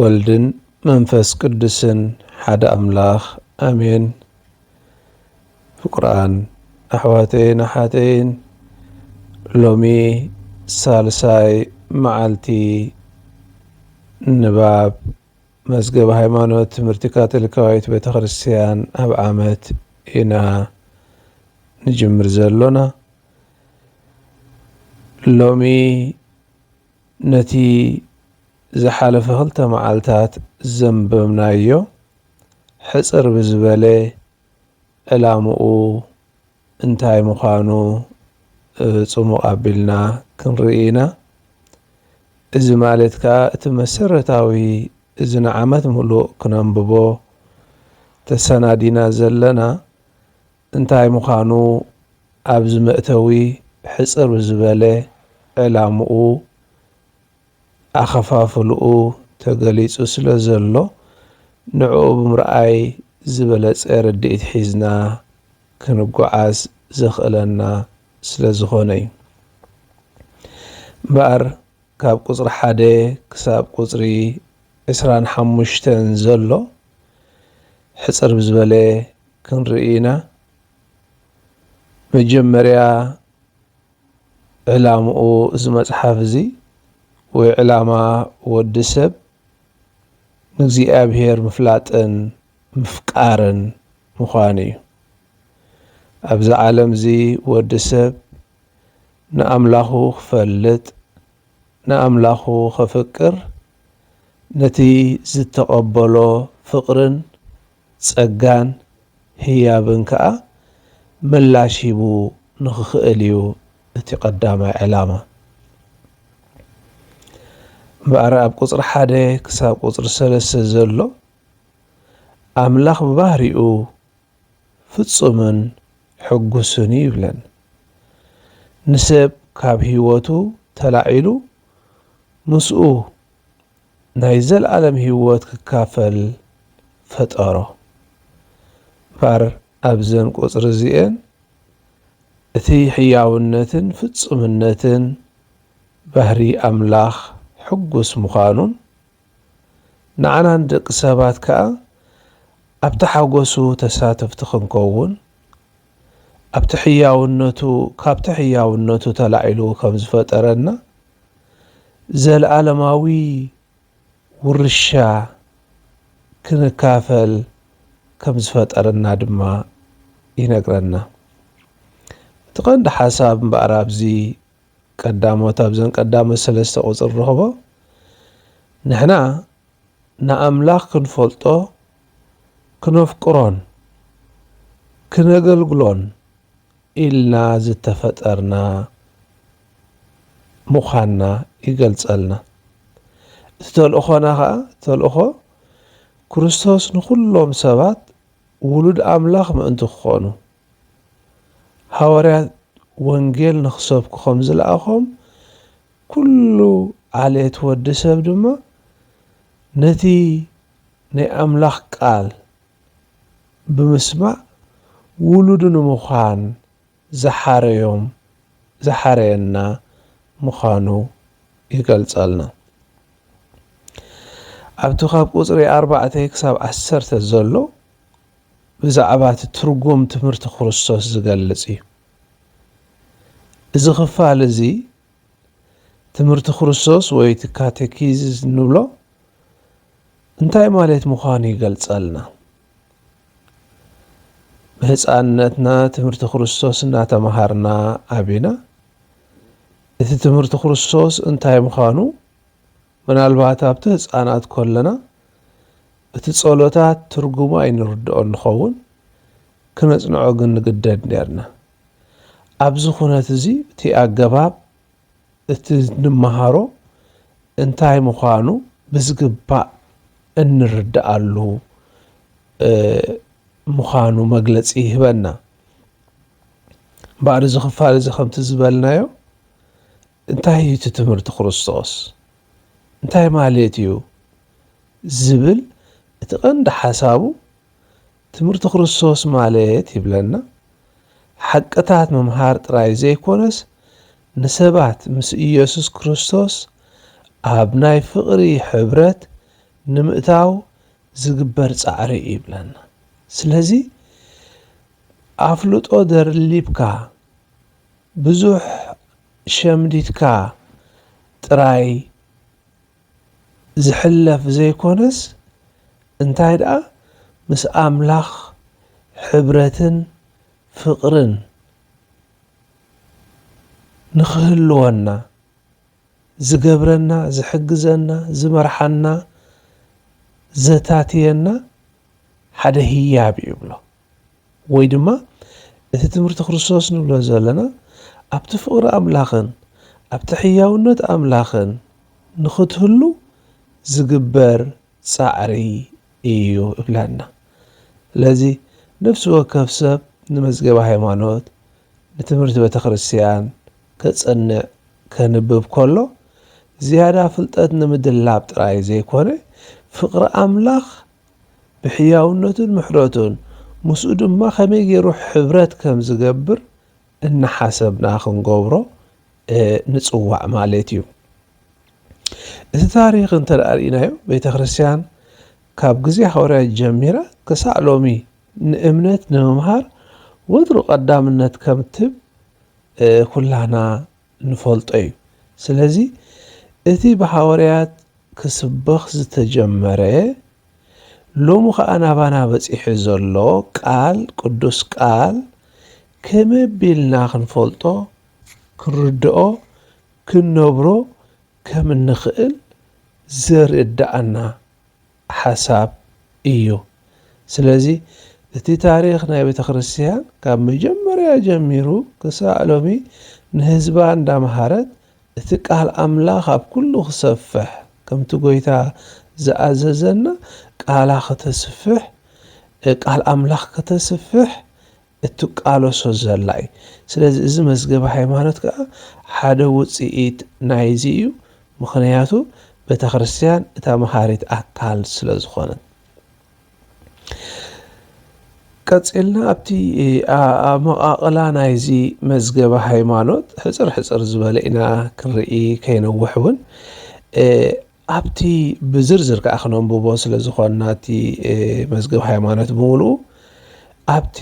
ወልድን መንፈስ ቅዱስን ሓደ ኣምላኽ ኣሜን። ፍቁራን ኣሕዋተይን ኣሓተይን ሎሚ ሳልሳይ መዓልቲ ንባብ መዝገብ ሃይማኖት ትምህርቲ ካቶሊካዊት ቤተ ክርስቲያን ኣብ ዓመት ኢና ንጅምር ዘሎና ሎሚ ነቲ ዝሓለፈ ክልተ መዓልታት ዘንበብናዮ ሕጽር ብዝበለ ዕላምኡ እንታይ ምዃኑ ጽሙቕ ኣቢልና ክንርኢ ኢና። እዚ ማለት ከኣ እቲ መሰረታዊ እዚ ንዓመት ምሉእ ክነንብቦ ተሰናዲና ዘለና እንታይ ምዃኑ ኣብዚ መእተዊ ሕጽር ብዝበለ ዕላምኡ ኣኸፋፍልኡ ተገሊጹ ስለ ዘሎ ንዕኡ ብምርኣይ ዝበለጸ ርድኢት ሒዝና ክንጎዓዝ ዘኽእለና ስለ ዝኾነ እዩ። እምበኣር ካብ ቁጽሪ ሓደ ክሳብ ቁጽሪ ዕስራን ሓሙሽተን ዘሎ ሕጽር ብዝበለ ክንርኢ ኢና። መጀመርያ ዕላምኡ እዚ መጽሓፍ እዚ ወይ ዕላማ ወዲ ሰብ ንእግዚኣብሔር ምፍላጥን ምፍቃርን ምዃን እዩ። ኣብዚ ዓለም እዚ ወዲ ሰብ ንኣምላኹ ክፈልጥ ንኣምላኹ ከፍቅር ነቲ ዝተቐበሎ ፍቕርን ጸጋን ህያብን ከኣ ምላሽ ሂቡ ንኽኽእል ኢዩ እቲ ቀዳማይ ዕላማ። እምበኣር ኣብ ቁጽሪ ሓደ ክሳብ ቁጽሪ ሰለስተ ዘሎ ኣምላኽ ብባህሪኡ ፍጹምን ሕጉስን እዩ ይብለን። ንሰብ ካብ ህይወቱ ተላዒሉ ምስኡ ናይ ዘለኣለም ህይወት ክካፈል ፈጠሮ። እምበኣር ኣብዘን ቁጽሪ እዚኤን እቲ ሕያውነትን ፍጹምነትን ባህሪ ኣምላኽ ሕጉስ ምዃኑን ንዓና ንደቂ ሰባት ከኣ ኣብቲ ሓጎሱ ተሳተፍቲ ክንከውን ኣብቲ ሕያውነቱ ካብቲ ሕያውነቱ ተላዒሉ ከም ዝፈጠረና ዘልኣለማዊ ውርሻ ክንካፈል ከም ዝፈጠረና ድማ ይነግረና። እቲ ቀንዲ ሓሳብ እምበኣር ኣብዚ ቀዳሞት ኣብዘን ቀዳሞት ሰለስተ ቁፅሪ ንረኽቦ ንሕና ንኣምላኽ ክንፈልጦ ክነፍቅሮን ክነገልግሎን ኢልና ዝተፈጠርና ምዃንና ይገልጸልና። እቲ ተልእኾና ከኣ ተልእኾ ክርስቶስ ንኹሎም ሰባት ውሉድ ኣምላኽ ምእንቲ ክኾኑ፣ ሃዋርያት ወንጌል ንኽሰብኩ ከም ዝለኣኾም፣ ኩሉ ዓሌት ወዲ ሰብ ድማ ነቲ ናይ ኣምላኽ ቃል፣ ብምስማዕ ውሉዱ ንምዃን ዝሓረዮም ዝሓረየና ምዃኑ ይገልጸልና። ኣብቲ ካብ ቁጽሪ ኣርባዕተ ክሳብ ዓሰርተ ዘሎ ብዛዕባ እቲ ትርጉም ትምህርቲ ክርስቶስ ዝገልጽ እዩ። እዚ ክፋል እዚ ትምህርቲ ክርስቶስ ወይ እቲ ካቴኪዝስ እንብሎ እንታይ ማለት ምዃኑ ይገልጸልና። ብህፃንነትና ትምህርቲ ክርስቶስ እናተምሃርና ዓቢና እቲ ትምህርቲ ክርስቶስ እንታይ ምዃኑ ምናልባት ኣብቲ ህፃናት ከለና እቲ ጸሎታት ትርጉሙ ኣይንርድኦ ንኸውን ክነጽንዖ ግን ንግደድ ነርና። ኣብዚ ኩነት እዚ እቲ ኣገባብ እቲ እንመሃሮ እንታይ ምዃኑ ብዝግባእ እንርደኣሉ ምዃኑ መግለጺ ይህበና። እምበኣር እዚ ክፋል እዚ ከምቲ ዝበልናዮ እንታይ እዩ እቲ ትምህርቲ ክርስቶስ እንታይ ማለት እዩ ዝብል እቲ ቀንዲ ሓሳቡ ትምህርቲ ክርስቶስ ማለት ይብለና ሓቅታት ምምሃር ጥራይ ዘይኮነስ ንሰባት ምስ ኢየሱስ ክርስቶስ ኣብ ናይ ፍቕሪ ሕብረት ንምእታው ዝግበር ጻዕሪ እዩ ይብለና። ስለዚ ኣፍልጦ ደርሊብካ ብዙሕ ሸምዲድካ ጥራይ፣ ዝሕለፍ ዘይኮነስ እንታይ ደኣ ምስ ኣምላኽ ሕብረትን ፍቕርን ንኽህልወና ዝገብረና ዝሕግዘና ዝመርሓና ዘታትየና ሓደ ህያብ እዩ ይብሎ። ወይ ድማ እቲ ትምህርቲ ክርስቶስ ንብሎ ዘለና ኣብቲ ፍቕሪ ኣምላኽን ኣብቲ ሕያውነት ኣምላኽን ንኽትህሉ ዝግበር ጻዕሪ እዩ እብለና። ስለዚ ነፍሲ ወከፍ ሰብ ንመዝገበ ሃይማኖት ንትምህርቲ ቤተ ክርስቲያን ከጽንዕ ከንብብ ከሎ ዝያዳ ፍልጠት ንምድላብ ጥራይ ዘይኮነ ፍቕሪ ኣምላኽ ብሕያውነቱን ምሕረቱን ምስኡ ድማ ከመይ ገይሩ ሕብረት ከም ዝገብር እናሓሰብና ክንገብሮ ንጽዋዕ ማለት እዩ። እቲ ታሪኽ እንተ ርእናዮ ቤተ ክርስቲያን ካብ ግዜ ሃዋርያት ጀሚራ ክሳዕ ሎሚ ንእምነት ንምምሃር ወትሩ ቀዳምነት ከም ትህብ ኩላህና ንፈልጦ እዩ ስለዚ እቲ ብሃወርያት ክስበኽ ዝተጀመረ ሎሚ ከኣ ናባና በጺሑ ዘሎ ቃል ቅዱስ ቃል ከመቢልና ክንፈልጦ ክንርድኦ ክንነብሮ ከምንኽእል ዘርድኣና ሓሳብ እዩ። ስለዚ እቲ ታሪኽ ናይ ቤተክርስትያን ካብ መጀመርያ ጀሚሩ ክሳዕ ሎሚ ንህዝባ እንዳምሃረት እቲ ቃል ኣምላኽ ኣብ ኩሉ ክሰፍሕ ከምቲ ጎይታ ዝኣዘዘና ቃላ ከተስፍሕ ቃል ኣምላኽ ከተስፍሕ እትቃለሶ ዘላ እዩ። ስለዚ እዚ መዝገበ ሃይማኖት ከኣ ሓደ ውጽኢት ናይዚ እዩ፣ ምኽንያቱ ቤተክርስትያን እታ መሃሪት ኣካል ስለ ዝኾነት። ቀጺልና ኣብቲ ኣመቓቕላ ናይዚ መዝገበ ሃይማኖት ሕጽር ሕጽር ዝበለ ኢና ክንርኢ ከይነውሕ እውን ኣብቲ ብዝርዝር ከኣ ክነንብቦ ስለ ዝኾንና እቲ መዝገብ ሃይማኖት ብምሉኡ ኣብቲ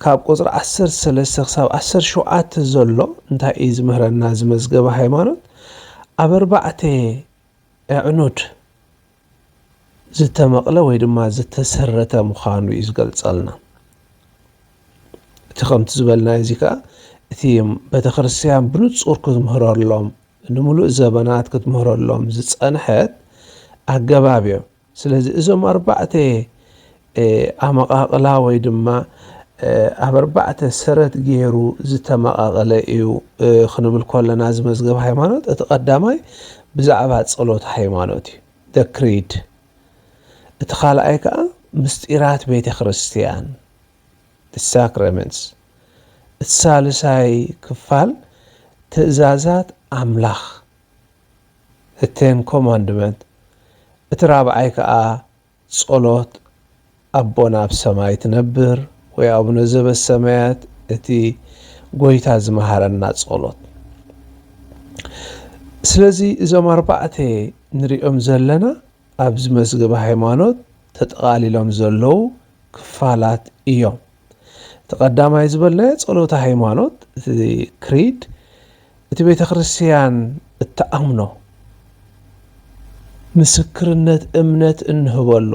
ካብ ቁጽሪ ዓሰርተ ሰለስተ ክሳብ ዓሰርተ ሸውዓተ ዘሎ እንታይ እዩ ዝምህረና እዚ መዝገብ ሃይማኖት ኣብ ኣርባዕተ ኣዕኑድ ዝተመቕለ ወይ ድማ ዝተሰረተ ምዃኑ እዩ ዝገልጸልና እቲ ከምቲ ዝበልና እዚ ከኣ እቲ ቤተ ክርስትያን ብንጹር ክትምህረሎም ንምሉእ ዘበናት ክትምህረሎም ዝጸንሐት ኣገባብ እዮም። ስለዚ እዞም ኣርባዕተ ኣመቓቕላ ወይ ድማ ኣብ ኣርባዕተ ሰረት ገይሩ ዝተመቓቐለ እዩ ክንብል ኮለና እዚ መዝገብ ሃይማኖት እቲ ቀዳማይ ብዛዕባ ጸሎት ሃይማኖት እዩ ደክሪድ እቲ ካልኣይ ከዓ ምስጢራት ቤተ ክርስቲያን the sacraments እቲ ሳልሳይ ክፋል ትእዛዛት ኣምላኽ the ten commandment እቲ ራብዓይ ከኣ ጸሎት ኣቦና ኣብ ሰማይ ትነብር ወይ ኣቡነ ዘበሰማያት እቲ ጎይታ ዝመሃረና ጸሎት ስለዚ እዞም ኣርባዕተ ንሪኦም ዘለና ኣብዚ መዝገበ ሃይማኖት ተጠቓሊሎም ዘለዉ ክፋላት እዮም። እቲ ቀዳማይ ዝበልናዮ ጸሎተ ሃይማኖት እቲ ክሪድ እቲ ቤተ ክርስቲያን እትኣምኖ ምስክርነት እምነት እንህበሉ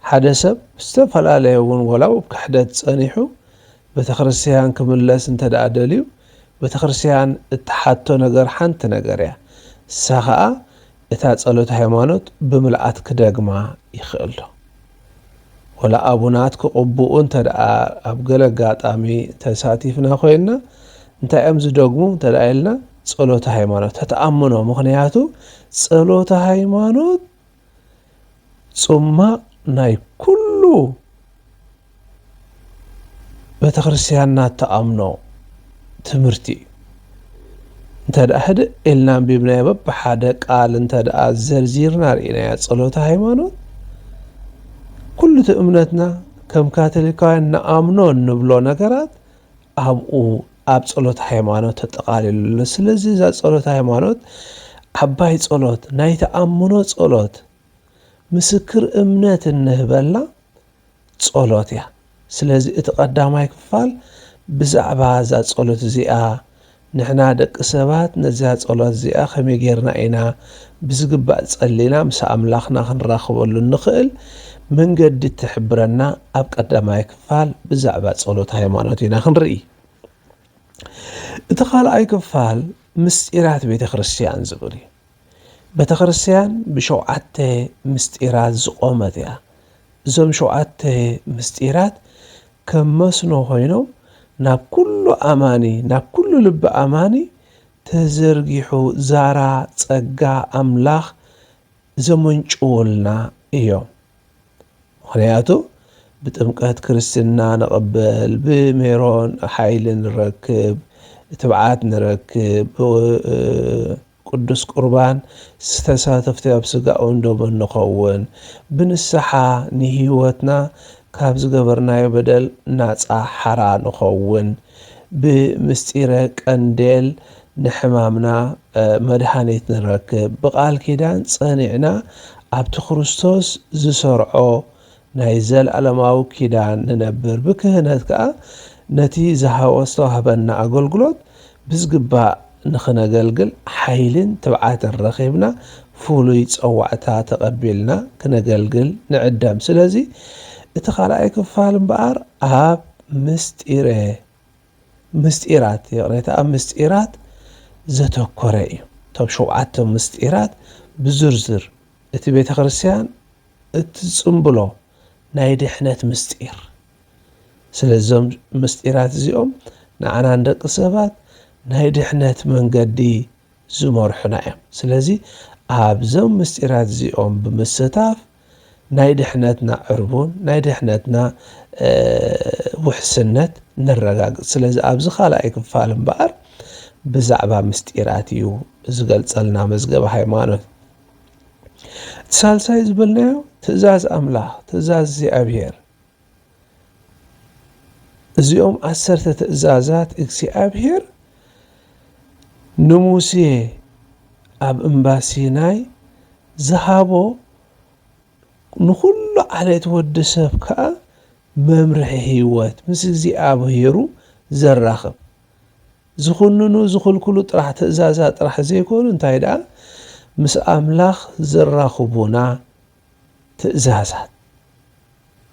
ሓደ ሰብ ዝተፈላለየ እውን ወላ ኣብ ክሕደት ጸኒሑ ቤተ ክርስቲያን ክምለስ እንተ ደኣ ደልዩ ቤተ ክርስቲያን እትሓቶ ነገር ሓንቲ ነገር እያ ንሳ ኸኣ እታ ጸሎት ሃይማኖት ብምልኣት ክደግማ ይክእልዶ ወላ ኣቡናት ክቅቡኡ እንተ ኣብ ገለ ኣጋጣሚ ተሳቲፍና ኮይና እንታይ እዮም ዝደግሙ እንተ ኢልና ጸሎት ሃይማኖት ተተኣምኖ ምክንያቱ ጸሎት ሃይማኖት ጽማቕ ናይ ኩሉ ቤተክርስትያንና እትኣምኖ ትምህርቲ እዩ። እንተድኣ ህድእ ኢልና ኣንቢብናዮ በብሓደ ቃል እንተድኣ ዘርዚርና ርኢናያ ጸሎተ ሃይማኖት ኩሉ እቲ እምነትና ከም ካቶሊካውያን ንኣምኖ እንብሎ ነገራት ኣብኡ ኣብ ጸሎት ሃይማኖት ተጠቓሊሉ ኣሎ ስለዚ እዛ ጸሎት ሃይማኖት ዓባይ ጸሎት ናይ ተኣምኖ ጸሎት ምስክር እምነት እንህበላ ጸሎት እያ። ስለዚ እቲ ቀዳማይ ክፋል ብዛዕባ እዛ ጸሎት እዚኣ ንሕና ደቂ ሰባት ነዚኣ ጸሎት እዚኣ ከመይ ጌርና ኢና ብዝግባእ ጸሊና ምስ ኣምላኽና ክንራኽበሉ እንኽእል መንገዲ ትሕብረና ኣብ ቀዳማይ ክፋል ብዛዕባ ጸሎት ሃይማኖት ኢና ክንርኢ። እቲ ካልኣይ ክፋል ምስጢራት ቤተ ክርስቲያን ዝብል እዩ። ቤተክርስትያን ብሸውዓተ ምስጢራት ዝቖመት እያ። እዞም ሸውዓተ ምስጢራት ከም መስኖ ኮይኖም ናብ ኩሉ ኣማኒ ናብ ኩሉ ልቢ ኣማኒ ተዘርጊሑ ዛራ ጸጋ ኣምላኽ ዘመንጭውልና እዮም። ምክንያቱ ብጥምቀት ክርስትና ንቕበል፣ ብሜሮን ሓይሊ ንረክብ፣ ትብዓት ንረክብ፣ ቅዱስ ቍርባን ስ ተሳተፍቲ ኣብ ሥጋኡን ደሙን ንኸውን። ብንስሓ ንሕይወትና ካብ ዝገበርናዮ በደል ናጻ ሓራ ንኸውን። ብ ምሥጢረ ቀንዴል ንሕማምና መድኃኒት ንረክብ። ብቃል ኪዳን ጸኒዕና ኣብቲ ክርስቶስ ዝሠርዖ ናይ ዘለኣለማዊ ኪዳን ንነብር፣ ብክህነት ከኣ ነቲ ዝሃወ ዝተዋህበና ኣገልግሎት ብዝግባእ ንኽነገልግል ሓይልን ትብዓትን ረኺብና ፍሉይ ጸዋዕታ ተቐቢልና ክነገልግል ንዕደም። ስለዚ እቲ ካልኣይ ክፋል እምበኣር ኣብ ምስጢረ ምስጢራት ይቕሬታ ኣብ ምስጢራት ዘተኮረ እዩ። እቶም ሸውዓተ ምስጢራት ብዝርዝር እቲ ቤተ ክርስቲያን እቲ ጽምብሎ ናይ ድሕነት ምስጢር። ስለዚ እዞም ምስጢራት እዚኦም ንዓና ንደቂ ሰባት ናይ ድሕነት መንገዲ ዝመርሑና እዮም። ስለዚ ኣብዞም ምስጢራት እዚኦም ብምስታፍ ናይ ድሕነትና ዕርቡን ናይ ድሕነትና ውሕስነት ነረጋግጽ። ስለዚ ኣብዚ ካልኣይ ክፋል እምበኣር ብዛዕባ ምስጢራት እዩ ዝገልጸልና መዝገበ ሃይማኖት። ሳልሳይ ዝበልናዮ ትእዛዝ ኣምላኽ ትእዛዝ እግዚኣብሔር እዚኦም ዓሰርተ ትእዛዛት እግዚኣብሔር ንሙሴ ኣብ እምባ ሲናይ ዝሃቦ ንኹሉ ዓሌት ወዲ ሰብ ከዓ መምርሒ ህይወት ምስ እግዚኣብሔሩ ዘራኽብ ዝኹንኑ ዝኽልክሉ ጥራሕ ትእዛዛት ጥራሕ ዘይኮኑ እንታይ ደኣ ምስ ኣምላኽ ዘራኽቡና ትእዛዛት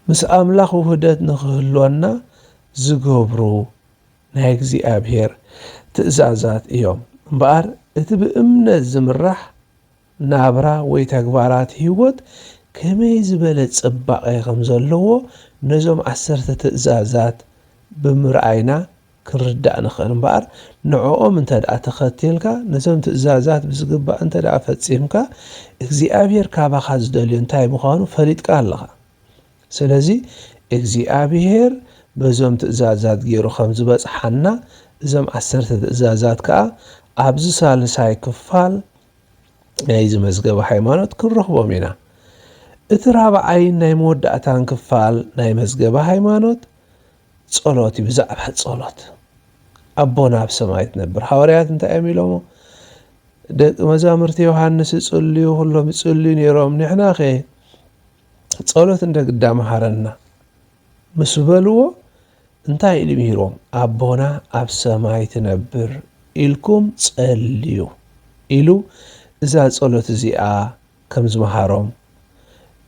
ምስ ኣምላኽ ውህደት ንኽህልወና ዝገብሩ ናይ እግዚኣብሔር ትእዛዛት እዮም እምበኣር እቲ ብእምነት ዝምራሕ ናብራ ወይ ተግባራት ህይወት ከመይ ዝበለ ጽባቐ ከም ዘለዎ ነዞም ዓሰርተ ትእዛዛት ብምርኣይና ክንርዳእ ንኽእል እምበኣር ንዕኦም እንተድኣ ተኸቲልካ ነዞም ትእዛዛት ብዝግባእ እንተድኣ ፈጺምካ እግዚኣብሔር ካባኻ ዝደልዮ እንታይ ምዃኑ ፈሊጥካ ኣለኻ ስለዚ እግዚኣብሔር በዞም ትእዛዛት ገይሩ ከም ዝበጽሓና እዞም ዓሰርተ ትእዛዛት ከኣ ኣብዚ ሳልሳይ ክፋል ናይዚ መዝገበ ሃይማኖት ክንረኽቦም ኢና። እቲ ራብዓይን ናይ መወዳእታን ክፋል ናይ መዝገበ ሃይማኖት ጸሎት እዩ። ብዛዕባ ጸሎት ኣቦና ኣብ ሰማይ ትነብር ሃዋርያት እንታይ እዮም ኢሎሞ? ደቂ መዛሙርቲ ዮሃንስ ይጽልዩ ኩሎም ይጽልዩ ነይሮም ንሕና ኸ ጸሎት እንደ ግዳ መሃረና ምስ በልዎ እንታይ ኢሉ ምሂሮም ኣቦና ኣብ ሰማይ ትነብር ኢልኩም ጸልዩ ኢሉ እዛ ጸሎት እዚኣ ከም ዝመሃሮም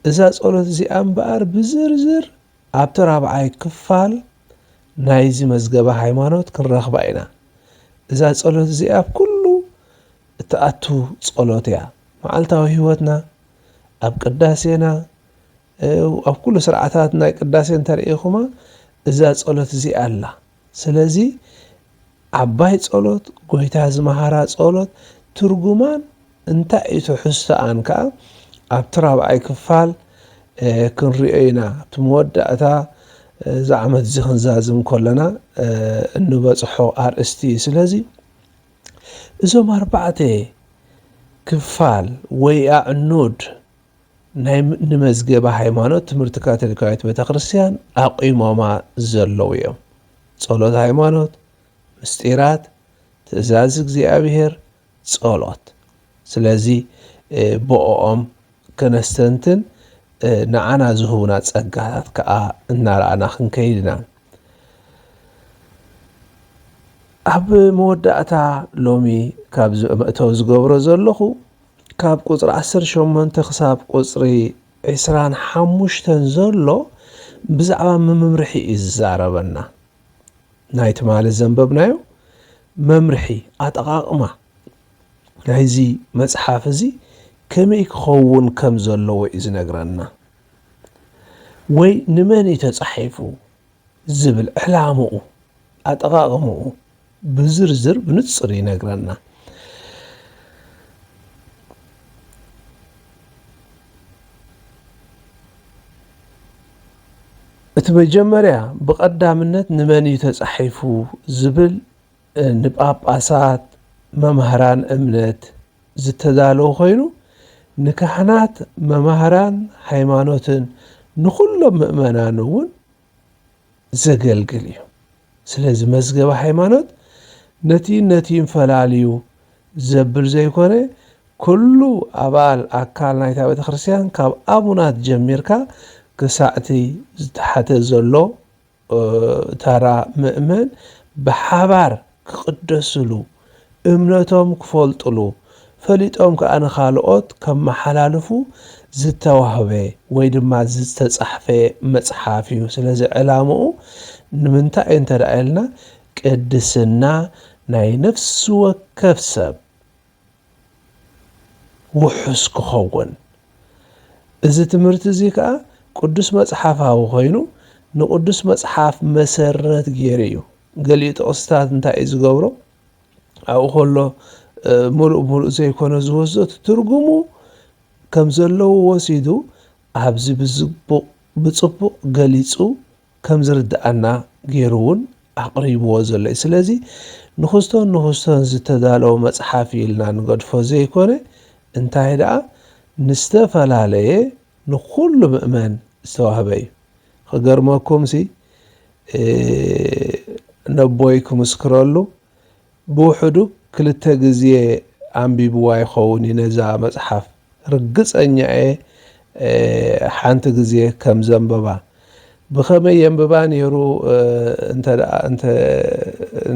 እዛ ጸሎት እዚኣ እምበኣር ብዝርዝር ኣብቲ ራብዓይ ክፋል ናይዚ መዝገበ ሃይማኖት ክንረኽባ ኢና እዛ ጸሎት እዚኣ ኣብ ኩሉ እትኣቱ ጸሎት እያ መዓልታዊ ህይወትና ኣብ ቅዳሴና ኣብ ኩሉ ስርዓታት ናይ ቅዳሴ እንተርኢኹማ እዛ ጸሎት እዚኣ ኣላ ስለዚ ዓባይ ጸሎት ጎይታ ዝመሃራ ጸሎት ትርጉማን እንታይ እዩ ትሕዝቶኣን ከኣ ኣብቲ ራብዓይ ክፋል ክንሪኦ ኢና ኣብቲ መወዳእታ እዚ ዓመት እዚ ክንዛዝም ከለና እንበጽሖ ኣርእስቲ እዩ ስለዚ እዞም ኣርባዕተ ክፋል ወይ ኣዕኑድ ናይ ንመዝገበ ሃይማኖት ትምህርቲ ካቶሊካዊት ቤተክርስትያን ኣቚሞማ ዘለዉ እዮም። ጸሎት ሃይማኖት፣ ምስጢራት፣ ትእዛዝ እግዚኣብሔር፣ ጸሎት። ስለዚ ብኦኦም ከነስተንትን ንዓና ዝህቡና ጸጋታት ከኣ እናረኣና ክንከይድ ኢና። ኣብ መወዳእታ ሎሚ ካብዚ መእተዊ ዝገብሮ ዘለኹ ካብ ቁጽሪ ዓሰርተ ሸሞንተ ክሳብ ቁጽሪ ዕስራን ሓሙሽተን ዘሎ ብዛዕባ ምምምርሒ እዩ ዝዛረበና። ናይ ትማሊ ዘንበብናዮ መምርሒ ኣጠቓቕማ ናይዚ መጽሓፍ እዚ ከመይ ክኸውን ከም ዘለዎ እዩ ዝነግረና። ወይ ንመን እዩ ተጻሒፉ ዝብል ዕላምኡ ኣጠቓቕምኡ ብዝርዝር ብንጹር ይነግረና። እቲ መጀመርያ ብቐዳምነት ንመን እዩ ተጻሒፉ ዝብል ንጳጳሳት መማህራን እምነት ዝተዳለወ ኮይኑ ንካህናት መማህራን ሃይማኖትን ንኹሎም ምእመናን እውን ዘገልግል እዩ። ስለዚ መዝገበ ሃይማኖት ነቲን ነቲን ፈላልዩ ዘብል ዘይኮነ ኩሉ ኣባል ኣካል ናይታ ቤተ ክርስቲያን ካብ ኣቡናት ጀሚርካ ክሳዕቲ ዝተሓተ ዘሎ ተራ ምእመን ብሓባር ክቕደስሉ፣ እምነቶም ክፈልጡሉ፣ ፈሊጦም ከኣ ንኻልኦት ከመሓላልፉ ዝተዋህበ ወይ ድማ ዝተጻሕፈ መጽሓፍ እዩ። ስለዚ ዕላምኡ ንምንታይ እዩ እንተ ኢልና ቅድስና ናይ ነፍሲ ወከፍ ሰብ፣ ውሑስ ክኸውን። እዚ ትምህርቲ እዚ ከኣ ቅዱስ መጽሓፋዊ ኮይኑ ንቅዱስ መጽሓፍ መሰረት ገይሩ እዩ። ገሊኡ ጥቕስታት እንታይ እዩ ዝገብሮ ኣብኡ ከሎ ምሉእ ምሉእ ዘይኮነ ዝወስዶ ትርጉሙ ከም ዘለዎ ወሲዱ ኣብዚ ብዝቡቕ ብጽቡቕ ገሊጹ ከም ዝርድኣና ገይሩ እውን ኣቕሪብዎ ዘሎ እዩ። ስለዚ ንኽስቶን ንኽስቶን ዝተዳለወ መጽሓፍ እዩ ኢልና ንገድፎ ዘይኮነ፣ እንታይ ደኣ ንዝተፈላለየ ንኹሉ ምእመን ዝተዋህበ እዩ። ክገርመኩምሲ ነቦይ ክምስክረሉ ብውሕዱ ክልተ ግዜ ኣንቢብዋ ይኸውን እዩ ነዛ መጽሓፍ ርግጸኛ እየ ሓንቲ ግዜ ከም ዘንበባ። ብኸመይ የንብባ ኔሩ እንተ እንተ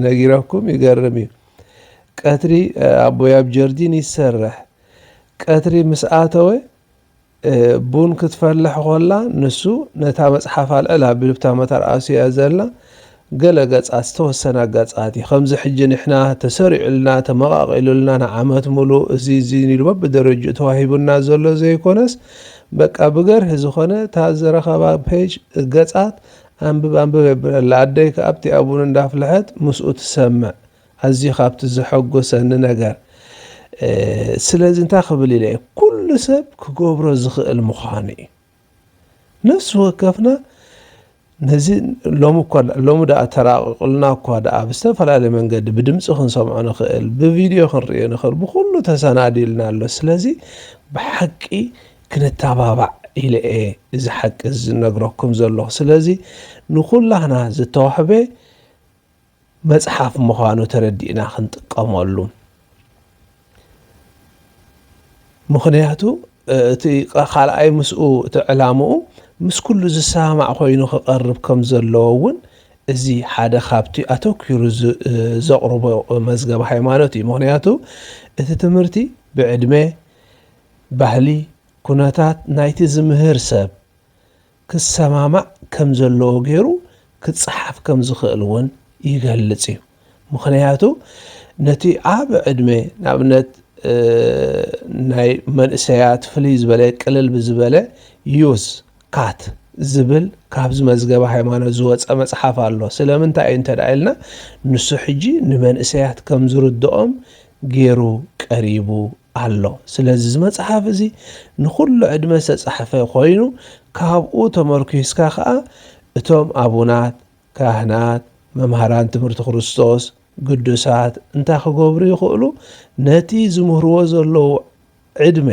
ነጊረኩም ይገርም እዩ። ቀትሪ ኣቦይ ኣብ ጀርዲን ይሰርሕ ቀትሪ ምስ ኣተወ ቡን ክትፈልሕ ኮላ ንሱ ነታ መጽሓፍ ኣልዕል ኣቢሉብታ መታር ኣስዩያ ዘላ ገለ ገጻት ዝተወሰነ ኣጋጻት እዩ ከምዚ ሕጂ ንሕና ተሰሪዑልና ተመቓቒሉልና ንዓመት ሙሉእ እዚ እዚ ኢሉ በብደረጅኡ ተዋሂቡና ዘሎ ዘይኮነስ በቃ ብገርሂ ዝኾነ እታ ዝረኸባ ፔጅ ገጻት ኣንብብ ኣንብብ የብለላ ኣደይ ከኣብቲ ኣቡን እንዳፍልሐት ምስኡ ትሰምዕ ኣዝዩ ካብቲ ዘሐጎሰኒ ነገር ስለዚ እንታይ ክብል ኢለ ኩሉ ሰብ ክገብሮ ዝኽእል ምዃኑ እዩ ነፍሲ ወከፍና ነዚ ሎሚ እኳ ሎሚ ደኣ ተራቂቁልና እኳ ደኣ ብዝተፈላለየ መንገዲ ብድምፂ ክንሰምዖ ንኽእል ብቪድዮ ክንሪኦ ንኽእል ብኩሉ ተሰናዲልና ኣሎ ስለዚ ብሓቂ ክንተባባዕ ኢለ እየ እዚ ሓቂ ዝነግረኩም ዘለኹ ስለዚ ንኩላህና ዝተዋህበ መጽሓፍ ምዃኑ ተረዲእና ክንጥቀመሉ ምኽንያቱ እቲ ካልኣይ ምስኡ እቲ ዕላምኡ ምስ ኩሉ ዝሰማማዕ ኮይኑ ክቐርብ ከም ዘለዎ እውን እዚ ሓደ ካብቲ ኣተኪሩ ዘቕርቦ መዝገብ ሃይማኖት እዩ ምክንያቱ እቲ ትምህርቲ ብዕድመ ባህሊ ኩነታት ናይቲ ዝምህር ሰብ ክሰማማዕ ከም ዘለዎ ገይሩ ክጸሓፍ ከም ዝኽእል እውን ይገልጽ እዩ። ምኽንያቱ ነቲ ዓቢ ዕድመ ንኣብነት ናይ መንእሰያት ፍልይ ዝበለ ቅልል ብዝበለ ዩዝ ካት ዝብል ካብዚ መዝገበ ሃይማኖት ዝወፀ መፅሓፍ ኣሎ ስለምንታይ እዩ እንተ ኢልና ንሱ ሕጂ ንመንእሰያት ከም ዝርድኦም ጌሩ ቀሪቡ ኣሎ። ስለዚ እዚ መጽሓፍ እዚ ንኹሉ ዕድመ ዝተጻሕፈ ኮይኑ ካብኡ ተመርኲስካ ከኣ እቶም ኣቡናት፣ ካህናት፣ መምሃራን ትምህርቲ ክርስቶስ፣ ግዱሳት እንታይ ክገብሩ ይኽእሉ ነቲ ዝምህርዎ ዘለዉ ዕድመ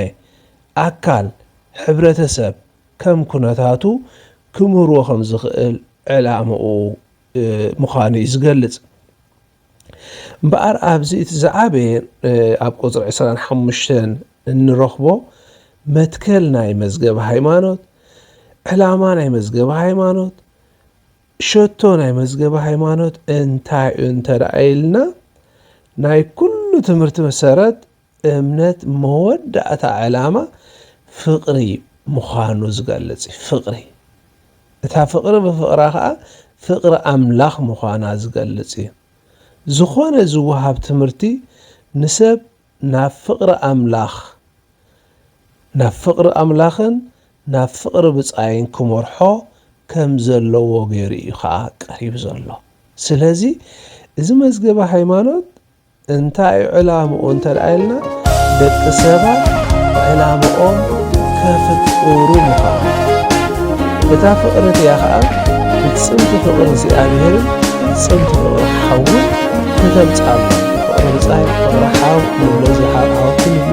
ኣካል ሕብረተሰብ ከም ኩነታቱ ክምህርዎ ከም ዝኽእል ዕላምኡ ምዃኑ እዩ ዝገልጽ። እምበኣር ኣብዚ እቲ ዝዓበየ ኣብ ቁፅሪ ዕስራን ሓሙሽተን እንረኽቦ መትከል ናይ መዝገብ ሃይማኖት ዕላማ ናይ መዝገብ ሃይማኖት ሸቶ ናይ መዝገብ ሃይማኖት እንታይ እዩ እንተደኣ ኢልና ናይ ኩሉ ትምህርቲ መሰረት እምነት መወዳእታ ዕላማ ፍቕሪ ምዃኑ ዝገልጽ እዩ። ፍቕሪ እታ ፍቕሪ ብፍቕራ ከኣ ፍቕሪ ኣምላኽ ምዃና ዝገልጽ እዩ። ዝኾነ ዝወሃብ ትምህርቲ ንሰብ ናብ ፍቕሪ ኣምላኽ ናብ ፍቕሪ ኣምላኽን ናብ ፍቕሪ ብጻይን ክመርሖ ከም ዘለዎ ገይሩ እዩ ከኣ ቀሪቡ ዘሎ። ስለዚ እዚ መዝገበ ሃይማኖት እንታይ እዩ ዕላምኡ እንተ ኢልና ደቂ ሰባት ዕላምኦም ከፍቅሩ ምዃኑ እታ ፍቕሪ እቲኣ ኸዓ ፍጽምቲ ፍቕሪ እግዚኣብሔርን ፍጽምቲ ፍቕሪ ሓውን ከተምጽኣሎም ፍቕሪ ብጻይ ፍቕሪ ሓው ንብሎ እዚ ሓው ሓወክን ንብሎ